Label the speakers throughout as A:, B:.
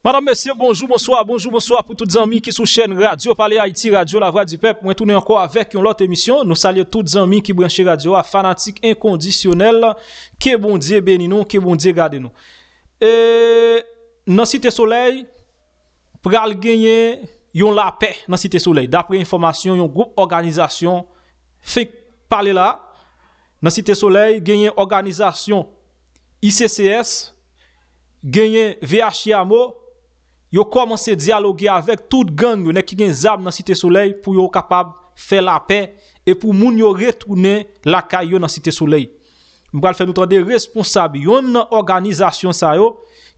A: Madam mesye bonjou bonswa bonjou bonswa pou tout zanmi ki sou chèn radyo pale ayiti radyo la vwa di pèp mwen tounen ankò avèk yon lòt emisyon nou salye tout zanmi ki branche radyo a fanatik enkondisyonèl ke bondye beni nou ke bondye gade nou e nan site solèy pral genyen yon lapè nan site solèy dapre enfòmasyon yon gwoup òganizasyon fenk pale la nan site solèy genyen òganizasyon ICCS, genyen VHIAMO, yo kòmanse dyaloge avèk tout gang yo, nèg ki gen zam nan Site Solèy pou yo kapab fè lapè e pou moun yo retounen lakay yo nan Site Solèy. M pral fè nou tande responsab yonn nan òganizasyon sa yo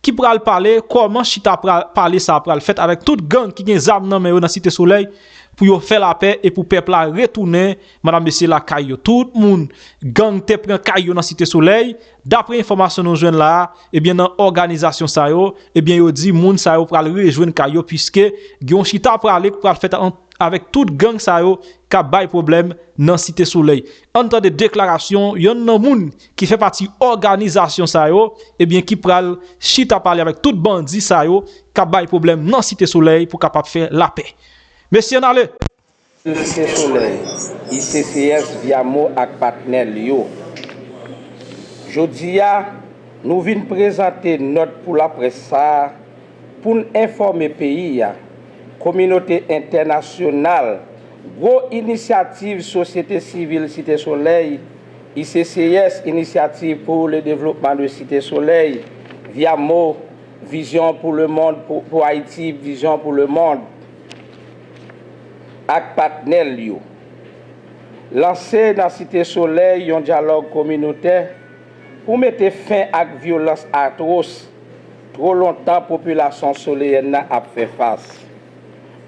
A: ki pral pale kòman chita pale sa a pral fèt avèk tout gang ki gen zam nan men yo nan Site Solèy pou yo fè lapè e pou pèp la retounen Madam mesye lakay yo tout moun gang te pran kay yo nan site solèy, dapre enfòmasyon nou jwenn la a ebyen nan òganizasyon sa yo ebyen yo di moun sa yo pral rejwenn kay yo puiske gen yon chita prale k pral fèt ant avèk tout gang sa yo kap bay pwoblèm nan site solèy. Ann tande deklarasyon yonn nan moun ki fè pati òganizasyon sa yo ebyen ki pral chita pale avèk tout bandi sa yo kap bay pwoblèm nan site solèy pou kapab fè lapè. Mesye ann ale! Site
B: Solèy, ICCS via mo ak patnè l yo. Jodi a, nou vin prezante nòt pou laprès sa a pou n enfòme peyi a, kominote entènasyonal, gwo inisyativ sosyete sivil Site Solèy, ICCS, Initiative pour le Développement de Cité Soleil, via mo, Vision pour le monde, pour Haïti, Vision pour le monde. ak patnè l yo lanse nan Site Solèy yon dyalòg kominotè pou mete fen ak vyolans atwos twò lontan popilasyon soleyèn nan ap fè fas.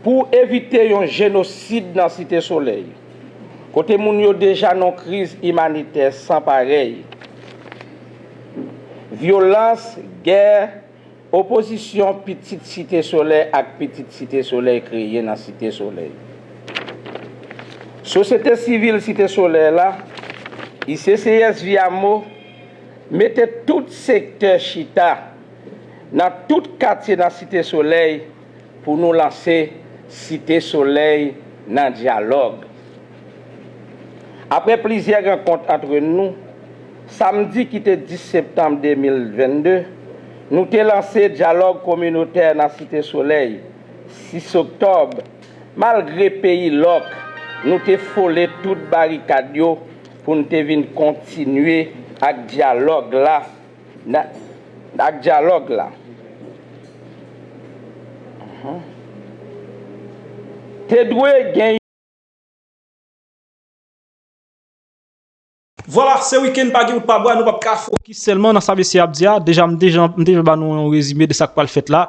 B: Pou evite yon jenosid nan Site Solèy, kote moun yo deja nan yon kriz imanitè san parèy, vyolans, gè, Opozisyon pitit Site Solèy ak pitit Site Solèy kreye nan Site Solèy. Sosyete Sivil Site Solèy la, ICCSVIAMO, mete tout sektè chita nan tout katye nan Site Solèy Pou nou lanse Site Solèy nan dyalòg. Aprè plizyè rankont antre nou, samdi ki te 10 septanm 2022, nou te lanse dyalòg kominotè nan Site Solèy, 6 oktòb, malgre peyi lòk nou te fole tout barikad yo pou n te vin kontinye ak dyalòg la, Nan ak dyalòg la. Te dwe gen yon.
A: Vwala, se wikenn pa gen wout pa bwa, nou pap ka fokis sèlman nan sa mesye a ap di a, deja m deja m deja ba nou yon rezime de sa k pral fèt la,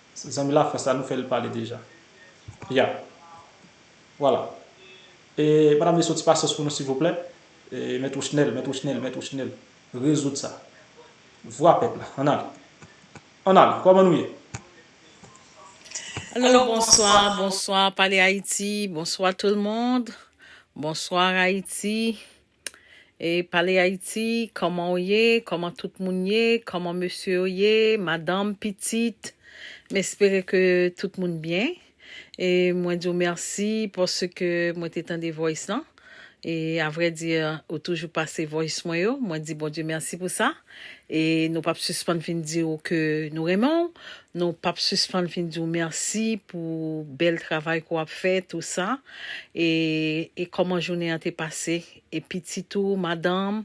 A: Zanmi la France la nou fel pale deja. Yeah. Voilà. E madam mesye yon ti pasyans pou nou silvouplè. E mèt Ouchnel, mèt Ouchnel, mèt Ouchnel. Rezoud sa. Vwa pèp la. Ann ale. Ann ale. Koman nou ye?
C: Alo bonswa bonswa pale ayiti bonswa tout le monde bonswa ayiti. E pale Ayiti, kòman w ye, kòman tout moun ye, kòman mesye yo ye, madanm, pitit. M espere ke tout moun byen. E mwen di w mèsi paske mwen te tande voice lan. E avrèdi, ou toujou pase voice mwen yo. Mwen di Bondye mèsi pou sa. E nou pap sispann fin di w ke nou renmen w, nou pap sispann fin di w mèsi pou bèl travay ke w ap fè tou sa. E e kòman jounen an te pase e pitit ou, madanm,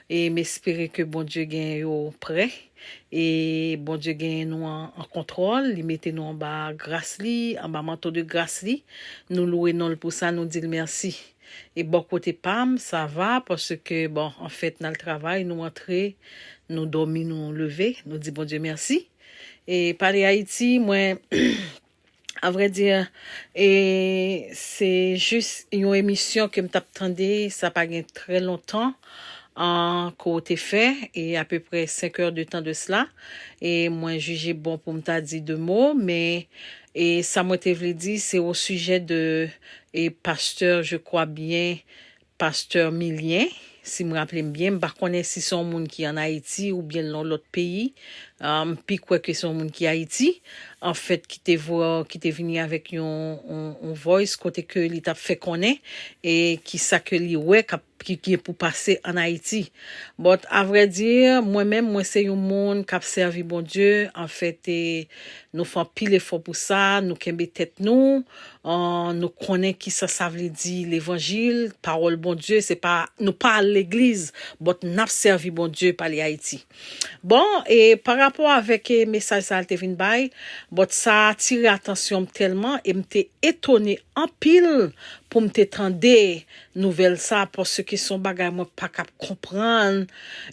C: e m espere ke Bondye genyen yo prè e Bondye genyen nou an an kontwòl, li mete nou anba gras li, anba manto de gras li. Nou louwe non l pou sa, nou di l mèsi. E bò kote pam sa va paske bon anfèt nal travay nou antre nou dòmi nou leve nou di Bondye mèsi e pale Haïti mwen a vrai dire e se jis yon emisyon kem tap tande sa pa gen trè lontan an ke w te fè e a peu près 5 heures de temps de cela e mwen jije bon poum ta di 2 mo men e sa mwen te vle di se au sujet de E pasteur je crois bien pasteur Milien si m raple m byen, m pa konnen si se yon moun ki an Ayiti oubyen l nan yon lòt peyi, m pi kwè ke se yon moun ki Ayiti an fèt ki te vo ki te vini avèk yon yon voice kote ke li t ap fè konnen e kisa ke li wè k ap ki gen pou pase an Ayiti. But a vrai dire, mwen menm mwen se yon moun kap sèvi Bondye, en fait e nou fè anpil efò pou sa, nou kenbe tèt nou, nou konnen kisa sa vle di levanjil, pawòl Bondye, se pa nou pa al legliz, but nap sèvi Bondye pale Ayiti. Bon, e pa rapò avèk e mesaj sa l te vin bay, but sa atire atansyon m tèlman e m te etone anpil pou m te tande nouvèl sa paske son bagay mwen pa kap konprann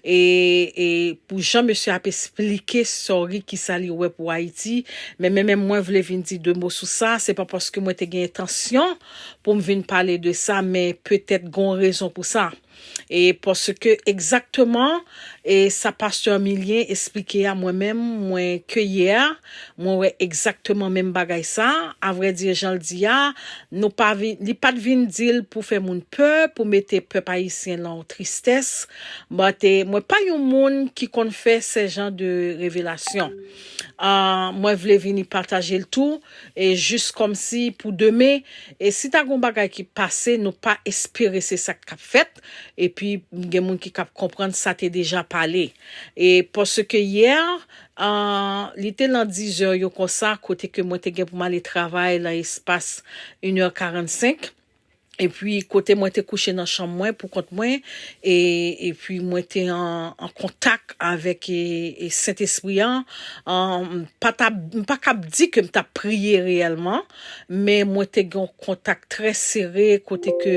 C: e pou jan mesye ap esplike sorry kisa li wè pou ayiti men men men mwen vle vin di 2 mo sou sa se pa paske mwen te gen entansyon poum vin pale de sa men petèt gon rezon pou sa e paske egzakteman e sa pastè Milien esplike a mwen menm mwen ke yè Mwen wè egzakteman menm bagay sa, a vrè di jan l di a, nou pa vin, li pat vin di l pou fè moun pè, pou mete pèp ayisyen lan yon tristès, but mwen pa yon moun ki konn fè sè jan de revelasyon. Mwen vle vini pataje l tou, e jis kòmsi pou demen, e si ta gon bagay ki pase nou pa espere se sa k t ap fèt, epi gen moun ki k ap konprann sa te deja pale. E paske yè, Ahh li te lan 10 zè yo konsa kote ke mwen te gen pou m ale travay lan espas yn è 45 epi kote mwen te kouche nan chanm mwen pou kont mwen e epi mwen te an an kontak avèk e e Sentespri an ahh m pa ta m pa kab di ke m t ap priye reyèlman men mwen te gen yon kontak trè sere kote ke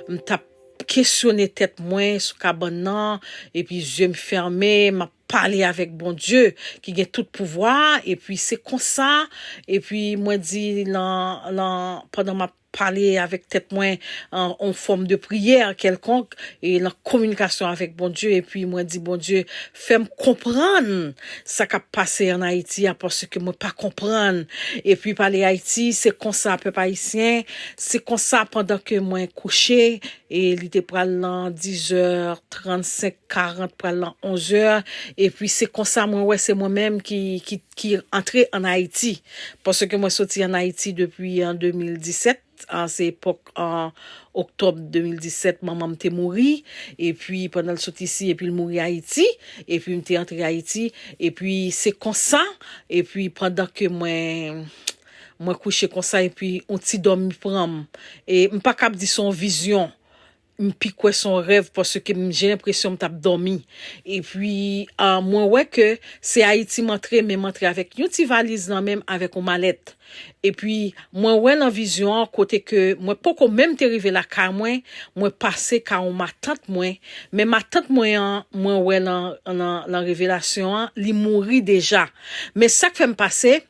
C: m t ap kesyone tèt mwen sou kabann nan epi zye m fèmen m ap pale avèk Bondye ki gen tout pouvwa a epi se konsa epi mwen di nan nan pandan map pale avèk tèt mwen an on fòm de priyè kèlkonk e nan kominikasyon avèk Bondye epi mwen di Bondye fèm konprann sa kap pase an Ayiti a paske mwen pa konprann epi pale Ayiti se konsa pèp ayisyen se konsa pandan ke mwen kouche e li te pral lan dizè trant senk karant pral lan onzè epi se konsa mwen wè se mwen menm ki ki antre an ayiti paske mwen soti an ayiti depi an 2017 an se epòk an oktòb 2017 manmanm te mouri epi pandan l sot isi epi l mouri ayiti epi m te antre ayiti epi se konsa epi pandan ke mwen. Mwen kouche konsa epi on ti dòmi pran m. E m pa kab di se on vizyon. M pi kwè se on rèv paske m je lenpresyon m t ap dòmi. Epi mwen wè ke se Ayiti m antre men m antre avèk yon ti valiz nan men m avèk on malèt. Epi mwen wè nan vizyon an kote ke mwen poko menm te rive lakay mwen, mwen pase ka on matant mwen. Men matant mwen an mwen wè lan revelasyon an li mouri deja. Men sa k fè m pase.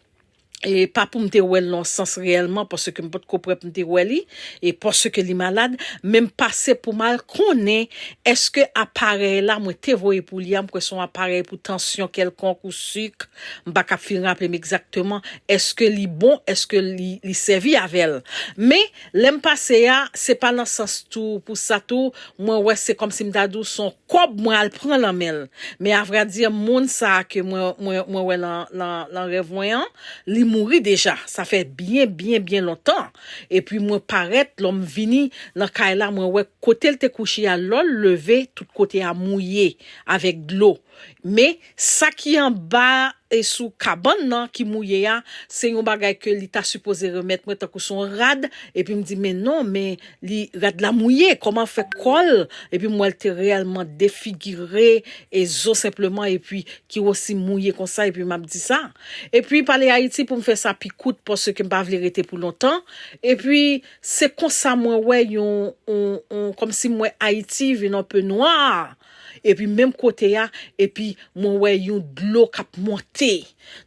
C: E pa pou m te wè l nan yon sans reyèlman, paske m pa t ko prè pou m te wè li, e paske li malad, men m pase pou m al konnen èske aparèy la mwen te voye pou li a, m kwè se yon aparèy pou tansyon kèlkonk ou sik, m pa ka fin raple m egzakteman, èske li bon, èske li sèvi avè l. Men, Lèm pase a se pa nan sans tou pou sa tou mwen wè se kòmsi mta di w son kòb mwen al pran nan menl men a vrai dire moun sa ke mwen mwen mwen wè lan lan lan rèv mwen an li mouri deja sa fè byen byen byen lontan epi mwen parèt lòm vini nan kay la mwen wè kotel te kouche a lòl leve tout kote a mouye avèk dlo. Men, sa ki anba a e sou kabann nan ki mouye a, se yon bagay ke li ta sipoze remèt mwen tankou se yon rad, epi m di, men non, men li, rad la mouye, kòman l fè kò l, epi m wè l te reyèlman defigire, e zo senpleman, epi ki osi mouye konsa, epi m ap di sa. Epi pale Ayiti pou m fè sa pi kout, paske m pa vle rete pou lontan, epi se konsa mwen wè yon, yon, yon, kòmsi m wè Ayiti vin anpe nwa, Epi menm kote a epi mwen wè yon dlo kap monte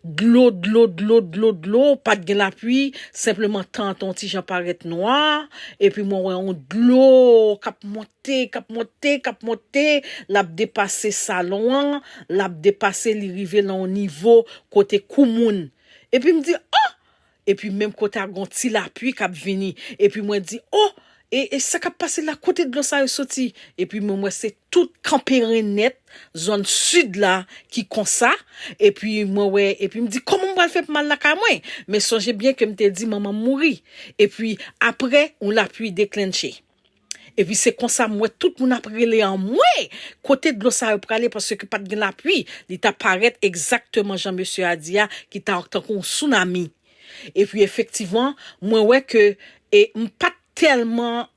C: dlo dlo dlo dlo dlo pat gen lapwi senpleman tan an te yon ti jan parèt nwa epi mwen wè yon dlo kap monte kap monte kap monte lap depase salon an lap depase li rive nan yon nivo kote kou moun epi m di oh Epi menm kote a gon ti lapui kap vini epi mwen di oh e e sa kap pase la kote dlo sa yo soti epi mwen wè se tout kanperen nèt zòn sud la ki konsa epi mwen wè epi m di kòman m pral fè pou m al lakay mwen men sonje byen ke m te di manman m mouri epi aprè yon lapui deklennche. Epi se konsa m wè tout moun ap rele anmwee! Kote dlo sa yo prale paske pa t gen lapui, li ta parèt egzakteman jan mesye a di a ki ta tankou yon sounami. Epi efektivman, mwen wè ke e m pa t tèlman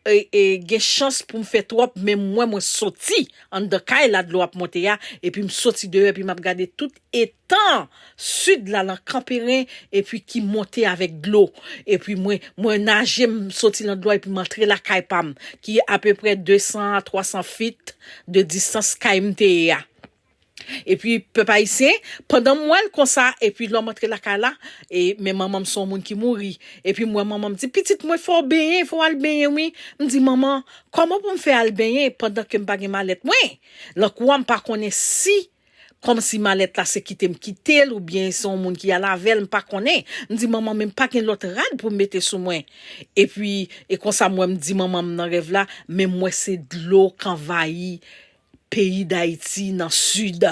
C: e e gen chans pou m fè twòp men m wè mwen soti anndan kay la dlo ap monte a epi m soti deyò epi m ap gade tout Etan Sid la lan Kanperen epi ki monte avèk dlo. Epi mwen, mwen naje m soti lan dlo a epi m antre lakay pa m, ki apeprè 200 a 300 feet de distans kay m te ye a. Epi, pèp Ayisyen, pandan m wè l konsa, epi lò m antre lakay la, e, men manman m se yon moun ki mouri. Epi m wè manman m di, Pitit mwen, fò w benyen, fò w al benyen wi. M di, Manman, kòman pou m fè al benyen pandan ke m pa gen malèt mwen? Lan kou a m pa konnen si Kòmsi malèt la se kite m kite l oubyen se yon moun ki al avè l m pa konnen. M di manman men m pa gen lòt rad pou m mete sou mwen. Epi e konsa m wè m di manman m nan rèv la men m wè se dlo k anvayi peyi Dayiti nan sid.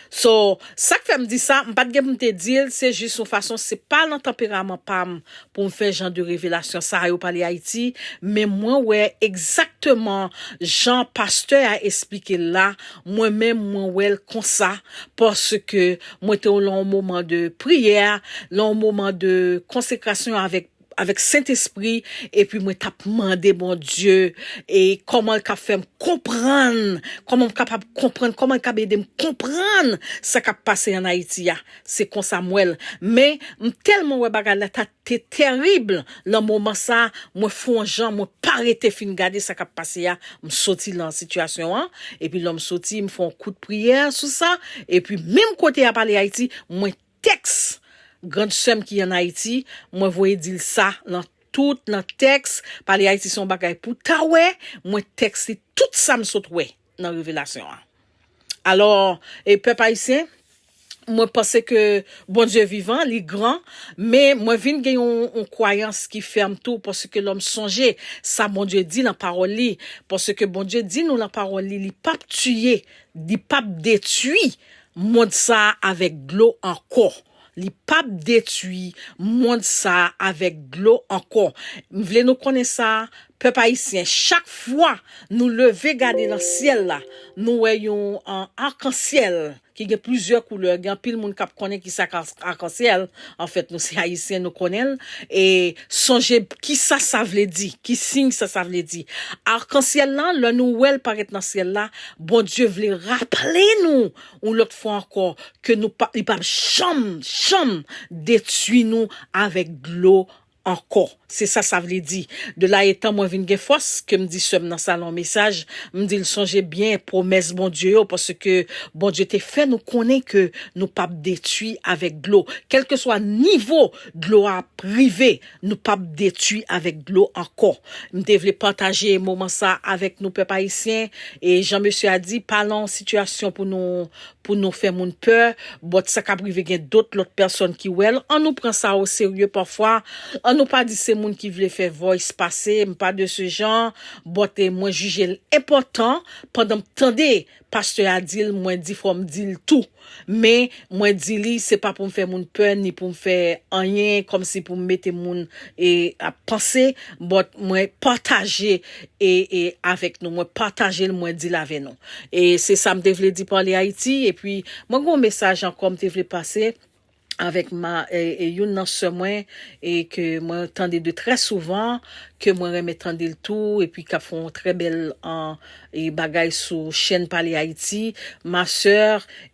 C: So sa k fè m di sa m pa t gen pou m te di l se jis yon fason se pa nan tanperaman pa m pou m fè jan de revelasyon sa yo pale Ayiti, men mwen wè egzakteman jan pastè a esplike l la, mwen menm mwen wè l konsa, paske mwen te w lan w moman de priyè, lan w moman de konsekrasyon avèk avèk Sentespri, epi mwen t ap mande Bondye e kòman l kab fè m konprann, kòman m kapab konprann, kòman l kab ede m konprann sa k ap pase an Ayiti a. Se konsa m wèl men m tèlman wè bagay la ta te terrible lan moman sa mwen fon on jan mwen pa rete fin gade sa kap pase a m soti lan situation an epi lèm soti m fè on kout priyè sou sa epi menm kote yap ale Haïti mwen tèks grand sèm ki an Haïti mwen voye dil sa lan tout nan tèks pale Haïti se on bagay pou ta wè mwen tèks li tout sam sot wè. nan revelasyon an alò e pèp ayisyen mwen panse ke Bondye vivan li gran men mwen vin gen yon yon kwayans ki fèm tou paske lòm sonje sa Bondye di lan pawòl li paske Bondye di nou lan pawòl li li pap tiye li pap detwi mond sa avèk dlo ankò. Li pap detwi mond sa avèk dlo ankò. M vle nou konnen sa, pèp ayisyen, chak fwa nou leve gade nan syèl la, nou wè yon arc-en-ciel ki gen plizyè koulè, gen anpil moun k ap konnen ki sa k arc-en-ciel, anfèt nou se ayisyen nou konnen l, e sonje ki sa sa vle di, ki siy sa sa vle di. Arc-en-ciel lan, lè nou wè l parèt nan syèl la, Bondye vle raple nou Yon lòt fwa ankò, ke nou pa, li pap janm, janm detwi nou avèk dlo ankò. Se sa sa vle di. De la etan mwen vin gen fòs, ke m di sè m nan salon mesaj, m di l sonje byen pwomès Bondye yo, paske Bondye te fè nou konnen ke nou pap detwi avèk dlo. Kèlkeswa nivo dlo a ap rive, Nou pap detwi avèk dlo ankò. M te vle pataje moman sa avèk nou pèp ayisyen e jan mesye a di pa lan yon sitiyasyon pou nou pou nou fè moun pè bòt sa kap rive gen dot lòt pèsòn ki wèl an nou pran sa o serye pafwa an nou pa di se moun ki vle fè voice pase m pa de se jan bòt e mwen jijel enpòtan pandan m tande Pastè a di l mwen di fò m di l tou. Men, mwen di li se pa pou m fè moun pè ni pou m fè anyen kòmsi pou m mete moun e ap panse but mwen pataje e e avèk nou mwen pataje l mwen di l avè nou. E se sa m te vle di Parle Haiti epi mwen gen yon mesaj ankò m te vle pase. avèk ma e youn nan sè mwen e ke mwen tande de trè souvan ke mwen renmen tande l tou epi kap fè yon trè bèl an e bagay sou chèn pale ayiti ma sè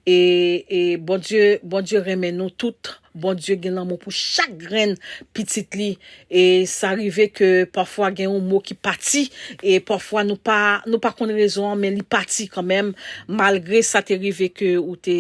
C: e e bondye bondye renmen nou tout bondye gen lanmou pou chak grenn pitit li E sa rive ke pafwa gen yon mo ki pati, e pafwa nou pa, nou pa konn rezon an men li pati kanmenm, malgre sa te rive ke ou te,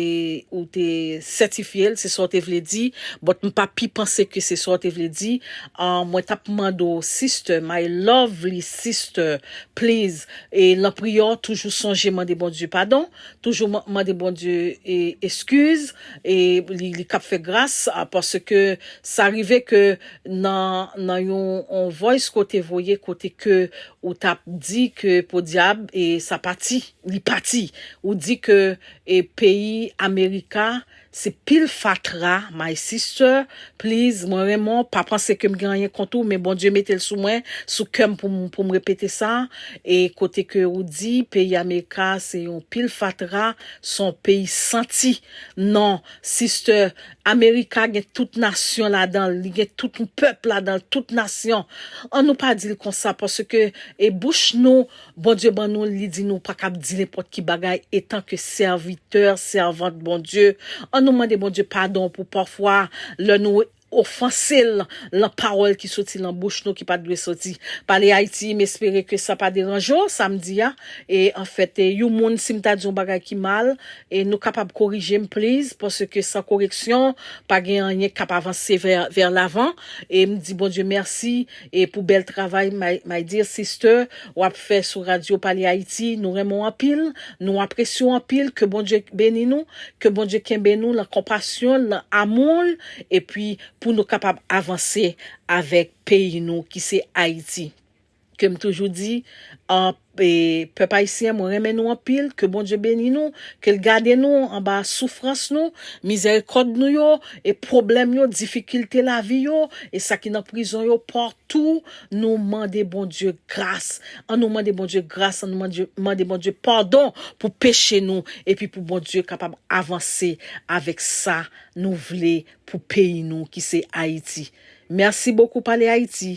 C: ou te sètifye l, se sa w te vle di, but m pa pi panse ke se sa w te vle di, an mwen t ap mande w sister, my lovely sister, please, e lan priyè w toujou sonje mande Bondye padon, toujou mande Bondye eskiz, e li, li k ap fè gras, paske sa rive ke. nan nan yon on voice ke w te voye kote ke ou t ap di ke podyab e sa pati li pati ou di ke e peyi america se pil fatra my sister please mwen renmen w pa panse ke m gen anyen kont ou men Bondye mete l sou mwen sou kè m pou m pou m repete sa e kote ke ou di peyi america se yon pil fatra s on peyi santi nan sister America gen tout nasyon ladanl li gen tout yon pèp ladanl tout nasyon an nou pa dil konsa paske e bouch nou Bondye ban nou li di nou pa kab di nenpòt ki bagay etan ke sèvitè sèvant Bondye an nou mande Bondye padon pou pafwa lè nou ofansel lan pawòl ki soti lan bouch nou ki pat dwe soti pale Ayiti m espere ke sa pa deranje w sa m di a e anfèt yon moun si m ta di yon bagay ki mal E nou kapab korijem please paske san koreksyon pa gen anyen kap avanse vers l'avant e m di Bondye merci e pou bèl travay my dear sister wap fè sou radio pale Haiti nou renmen w anpil nou apresye w anpil ke Bondye beni nou ke Bondye kenbe nou lan konpasyon l lan amour l epi pou nou kapab avanse avèk peyi nou ki se Haiti. Ke m toujou di pèp ayisyen mwen renmen nou anpil ke Bondye beni nou ke l gade nou anba soufrans nou mizèrikòd nou yo e pwoblèm yo difikilte lavi yo e sa ki nan prizon yo patou nou mande Bondye gras an nou mande Bondye gras an nou mande Bondye padon pou peche nou epi pou Bondye kapab avanse avèk sa nou vle pou peyi nou ki se Ayiti mèsi bokou pale Ayiti.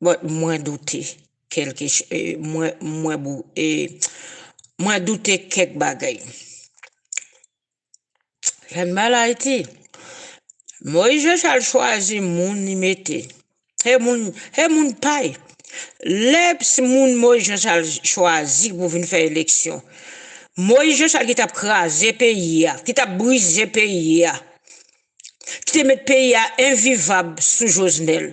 D: But mwen doute kelke ch eh mwen mwen bou eh mwen doute kèk bagay. Fèm mal Ayiti. Moise Jean-Charles chwazi moun li mete. He moun he moun pay. Lè bsy moun Moise Jean-Charles chwazi pou vin fè eleksyon. Moise Jean-Charles ki tap kraze peyi a, ki tap brize peyi a. Ki te met peyi a envivab sou Jovenel.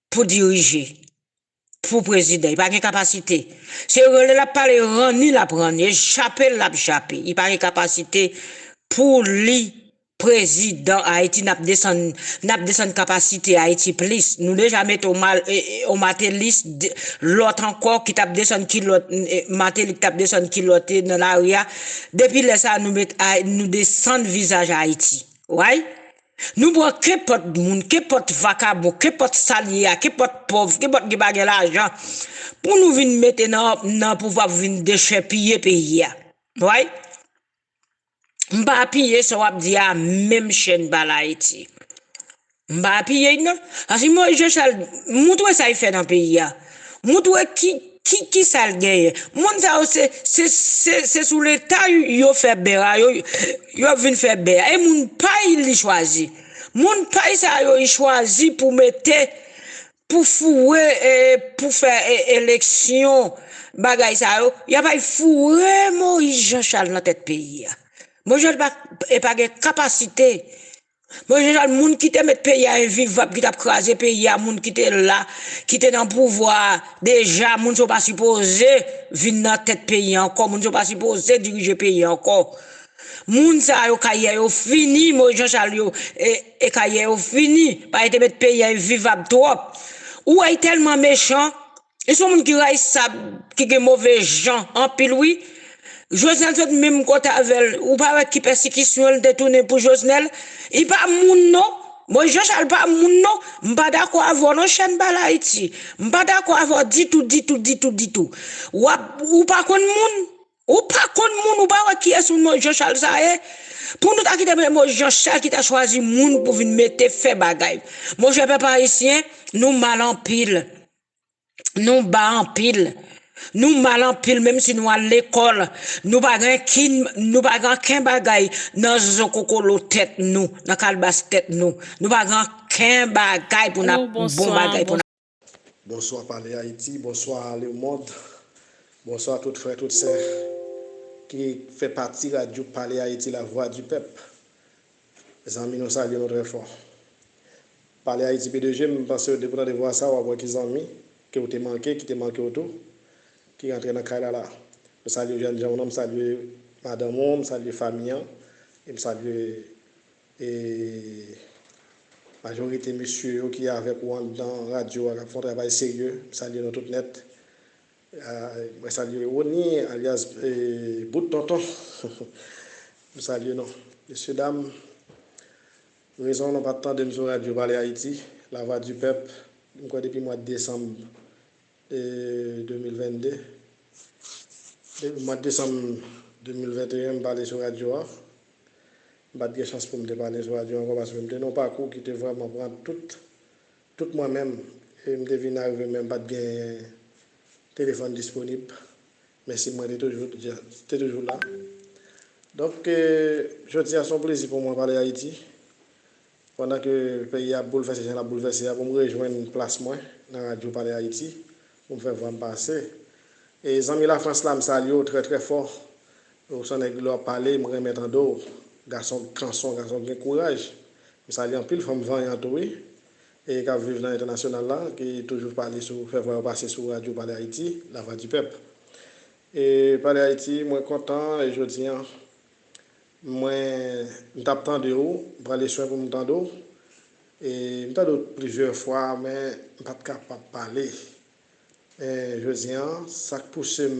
D: Pou dirije. Pou prezidan. Li pa gen kapasite. Se rele l ap pale ranni l ap ranni. E chape l l ap chape. Li pa gen kapasite pou li prezidan Ayiti. N ap desann n ap desann kapasite Ayiti plis. Nou deja mete yon mal e yon matelis de lòt ankò ki t ap desann kilòt e mateli k t ap desann kilòt e nan lari a. Depi lè sa a nou met a nou desann vizaj Ayiti. Way? Nou pran kenpòt moun, kenpòt vakabon, kenpòt sa l ye a, kenpòt pòv, kenpòt ki pa gen lajan pou nou vin mete nan pouvwa pou vin dechèpiye peyi a. Way? M pa apiye sa w ap di a menm chè n pa l Ayiti. M pa apiye l non. Paske Moyiz Jachan, montre sa l fè nan peyi a. Moutre ki ki kisal genyen. Moun sa yo se se se se sou leta yo fè bè a yo yo ap vin fè bè a e moun pay li chwazi moun pay sa yo li chwazi pou mete pou foure e pou fè e eleksyon bagay sa yo ya pay foure Moïse Jean Charles nan tèt peyi a Moïse Jean pa e pa gen kapasite Bon je jan moun kite met peyi a envivab ki tap kraze peyi a moun kite la kite nan pouvwa deja moun sa yo pa sipoze vin nan tèt peyi an ankò moun sa yo pa sipoze dirije peyi an ankò moun sa yo karyè yo fini mo jan chal yo e karyè yo fini paske te met peyi a envivab twòp ou wè y tèlman mechan. Li son moun ki rayisab, ki gen move jan anpil wi. Jovenel sot menm kote avèl, ou pa wè ki pèsikisyon li te tounen pou Jovenel? Li pa moun non. Moise Jean Charles pa moun non. M pa dakò avè w non chèn Pale Haiti. M pa dakò avè w ditou, ditou, ditou, ditou. Wap, ou pa konn moun. Ou pa konn moun, ou pa wè kiyès moun Moise Jean Charles sa ye? Pou nou ta kite pou se Moise Jean Charles ki ta chwazi moun pou vin mete fè bagay. Monchè pèp ayisyen, nou mal anpil. Nou ba anpil. Nou mal anpil menm si nou al lekòl. Nou pa gen kin, nou pa gen anken bagay nan zokokolo tèt nou, nan kalbas tèt nou. Nou pa gen anken bagay pou n'ap, bon bagay pou n'. Bonswa
E: Pale Haiti, bonswa le mond, bonswa tout frè tout sè ki fè pati radyo Pale Haiti la vwa di pèp. Zanmi nou salye nou trè fò. Pale Ayiti P2J m pansew depiw tande vwa sa wap wè ki zanmi kew te manke ki te mankew tou ki rantre nan kay la la. M salye jènjanw nan m salye madanm ou m salye fami an e m salye e majorite mesye yo ki avèk ou anndan radyo a kap fè yon travay serye m salye nou tout nèt. Mwen salye Rony alyas bout tonton m salye nou mesye dam rezon nou pat tandem sou radyo pale ayiti la vwa di pèp m kwè depi mwad desanm 2022 depi mwad desanm 2021 m pale sou radyo a m pat gen chans poum te pale sou radyo ankò paske m te nan yon pakou ki te vrèman pran tout Tout mwen menm, e m te vin arive menm pa t gen telefòn disponib, men sim mwen te toujou te toujou la. Donk, jodi a s on plezi pou mwen pale Ayiti, pandan ke peyi a ap boulvèse jan l ap boulvèse a, pou m rejwenn plas mwen nan radyo pale Ayiti, Ou m fè vwa m pase. E zanmi la France la m salye w trè trè fò ou s on nèg lè w ap pale m renmen tande w gason kanson gason ki gen kouraj m salye anpil fanm vanyan tou wi e k ap viv nan entènasyonal la ki toujou pale sou fè vwa yo pase sou radyo pale ayiti la vwa di pèp e pale ayiti mwen kontan e jodi an mwen m t ap tande w m prale swen pou m tande w. E m tande w plizyè fwa men m pa t kapab pale. Men jodi an sa k pouse m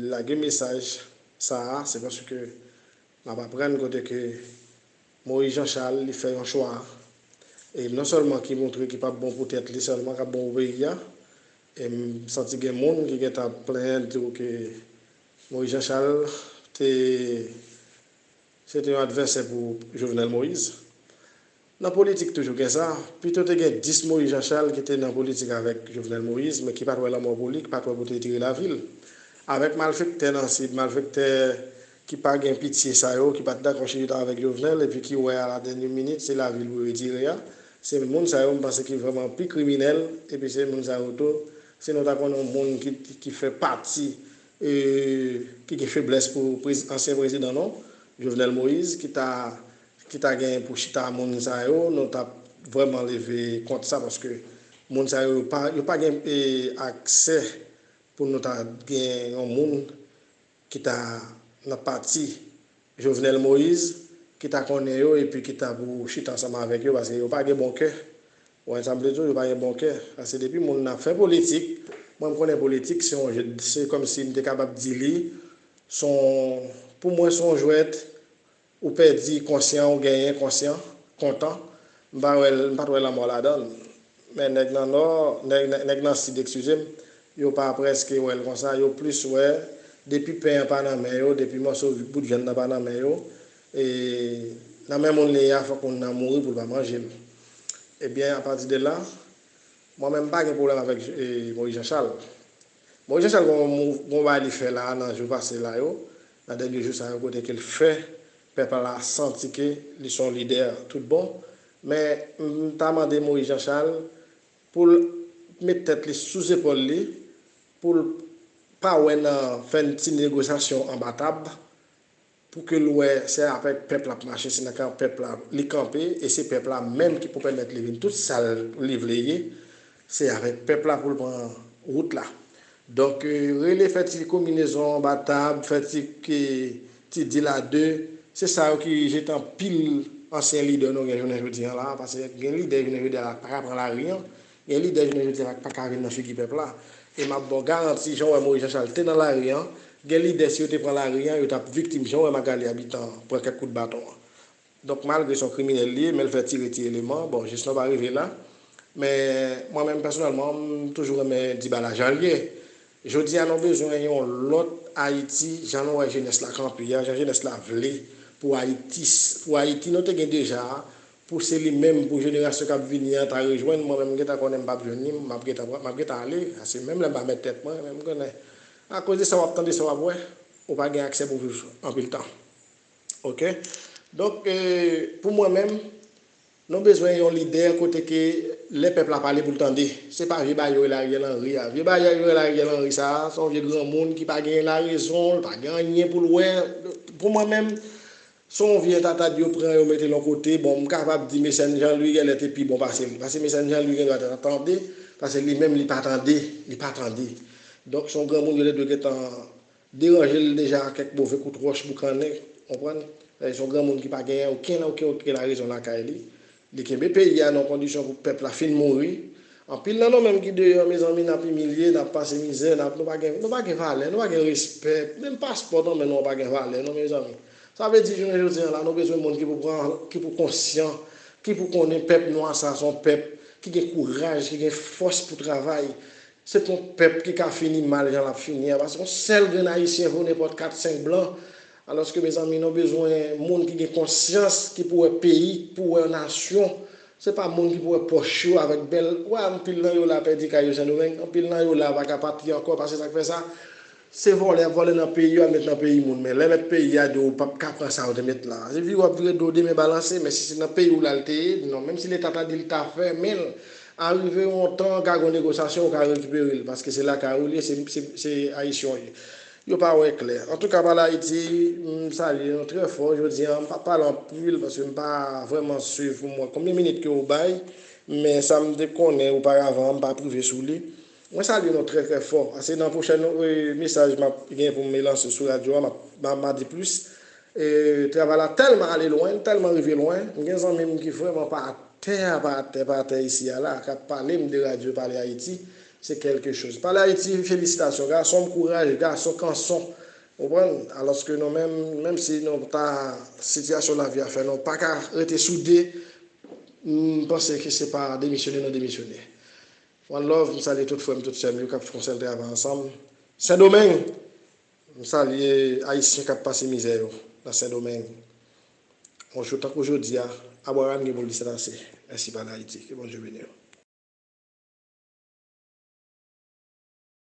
E: lage mesaj sa a se paske m ap aprann kote ke Moïse Jean Charles li fè yon chwa e non sèlman ki montre ki p ap bon pou tèt li sèlman k ap bon pou peyi a e m santi gen moun ki gentan ap plenyen tou ke Moïse Jean Charles te Se te yon advèsè pou Jovenel Moïse. Nan politik toujou gen sa, pito te gen 10 Moïse Jean Charles ki te nan politik avèk Jovenel Moïse men ki pat wè lanmò pou li, ki pat wè kote li te relavi l. Avèk malfèktè nan Sid, malfèktè ki pa gen pitye sa yo, ki pat dakò chita avèk Jovenel epi ki wè a la dènye minit se lavi l pou retire a, se moun sa yo m panse ki vrèman pi kriminèl epi se moun sa yo tou, si nou ta konnen yon moun ki fè pati. ki gen feblès pou ansyen prezidan non, Jovenel Moïse ki ta ki ta gen pou chita a moun sa yo, nou tap vrèman leve kont sa paske moun sa yo yo pa gen aksè pou nou ta gen yon moun ki ta nan pati Jovenel Moïse ki ta konnen yo epi ki ta pou chita ansanm avèk yo paske yo pa gen bon kè ou wè sa m vle di w yo pa gen bon kè paske depi moun nan ap fè politik mwen m konnen politik se yon je se kòm si m te kapab di li s on pou mwen s on jwèt ou pèdi konsyan ou genyen konsyan kontan m pa wè m pa t wè lanmò ladan l Men nèg nan nò, nèg nan sid ekskize m, yo pa prèske wè l konsa, yo plis wè depi pen an pa nan men yo, depi mòso bout vyann nan pa nan men yo, e nan men moun li ye a fòk moun nan mouri pou l pa manje l. Ebyen apati de la, mwen menm m pa gen pwoblèm avèk Moyiz Janchal. Moyiz Janchal gen yon bagay li fè la a nan jou pase la yo, nan dènye jou sa yo kote ke l fè Pèp la santi ke li son lidè tout bon, men m ta mande Moïse Jean Charles pou l met tèt li sou zepòl li, pou l pa wè nan fè n ti negosyasyon anba tab, pou ke l wè se avèk pèp l ap mache, se nan kan pèp la li kanpe, e se pèp la menm ki pou pèmèt li vin tout sa li vle ye, Se avèk pèp la pou l pran wout la. Donk, rele fè ti konminezon anba tab, fè ti ti dil a de, se sa yo ki jete anpil ansyen lidè nou gen jounen jodi an la a. Pase gen lidè jounen jodi a la k pa ka pran lari an. Gen lidè jounen jodi a la k pa ka vin nan figi pèp la. E m ap ba w garanti, jan w wè Moyiz Janchal te nan lari an, gen lidè si yo te pran lari an, yo t ap viktim jan w wè Magali Abitan pran kèk kout baton an. Donk malgre son kriminèl li ye menl fè tire ti eleman bon jesnon pa rive la men mwen menm pèsonèlman m toujou renmen dibala janl ye jodi a nou bezwen yon lòt ayiti jan nou wè jenès la kanpe a jan jenès la vle pou ayiti pou ayiti nou te gen deja a pou se li menm pou jenerasyon kap vini an ta rejwenn mwen menm m gentan konnen m pap jwenn li map gentan pran map gentan ale se menm lèm pa mèt tèt mwen men m konnen akoz de sa wap tande sa wap wè ou pa gen aksè pou viv anpil tan Ok donk pou mwen menm nou bezwen yon lidè kote ke lè pèp la pale pou l tande se pa vye bagay yo rele Ariel Henry a vye bagay yo rele Ariel Henry sa a se yon vye granmoun ki pa gen larezon l pa gen anyen pou l wè pou mwen menm se yon vye entatad yo pran yo mete l yon kote bon m kapab di Mecène Jean Louis gèlè te pi bon pase l pase Mecène Jean Louis gen dwa ta tande pase li menm li pa tande li pa tande donk se yon granmoun yo te dwe gentan Deranje l deja a kèk move kout wòch boukannen, konprann, se yon granmoun ki pa genyen okenn oken oken larezon lakay li, li kenbe peyi a nan yon kondisyon pou pèp la fin mouri, anpil nan nou menm ki deyò mezanmi nap imilye, nap pase mizè, nap nou pa gen nou pa gen valè, nou pa gen respè, menm paspò nan men nou an pa gen valè non mezanmi, sa vle di jounen jodi an la nou bezwen moun ki pou pran ki pou konsyan, ki pou konnen pèp nwa sa son pèp ki gen kouraj, ki gen fòs pou travay, Se pa yon pèp ki ka fini mal jan lap fini a, pa se yon sèl grenn ayisyen vo nenpòt 4, 5 blan, alòske mezanmi nou bezwen moun ki gen konsyans ki pou wè peyi, ki pou wè nasyon, se pa moun ki pou wè pòch yo avèk bèl, ou wè anpil nan yo la pèdi kay yo Sendomeng, anpil nan yo la pa ka pati ankò, pa se sak fè sa. Se vòlè yap vòlè nan peyi yo al met nan peyi moun men lè mèt peyi a di w pap ka pran sa ou te met lan se vire wap vire do demen balanse men si se nan peyi w lal te ye non menm si leta ta di l ta fèmen l a rive yon tan ka gon negosyasyon ou ka rekipere l paske se lakay ou l ye se Ayisyen w ye yo pa wè klè antouka pale Ayiti m salye nou trè fò jodi an m pap pale anpil paske m pa vrèman swiv pou m wè konbyen minit ke ou bay men sa m te konnen oparavan an m pa prive sou li. Mwen salye nou trè trè fò. Se nan pwochèn mesaj map gen pou m lanse sou radyo a m a di plis. Travay la tèlman ale lwen, li tèlman rive lwen, m gen zanmi m ki vrèman pa atè a, pa atè, pa atè isi a la, kap pale m de radyo Pale Ayiti, se kèlke choz. Pale Ayiti, felisitasyon gason m, kouraj gason, kanson. Ou konprann? Alòske nou menm, menm si nou ta, sitiyasyon lavi a fè nou pa ka rete soude, m panse ke se pa demisyone nou demisyone. One love, m salye tout frèm tout sèm yo kap fon sèl travay ansanm sendomeng, m salye ayisyen kap pase mizè yo nan sendomeng on jou tankou jodia abraham gen pou l di sèt ase mèsi pale ayiti ke bondye beniw.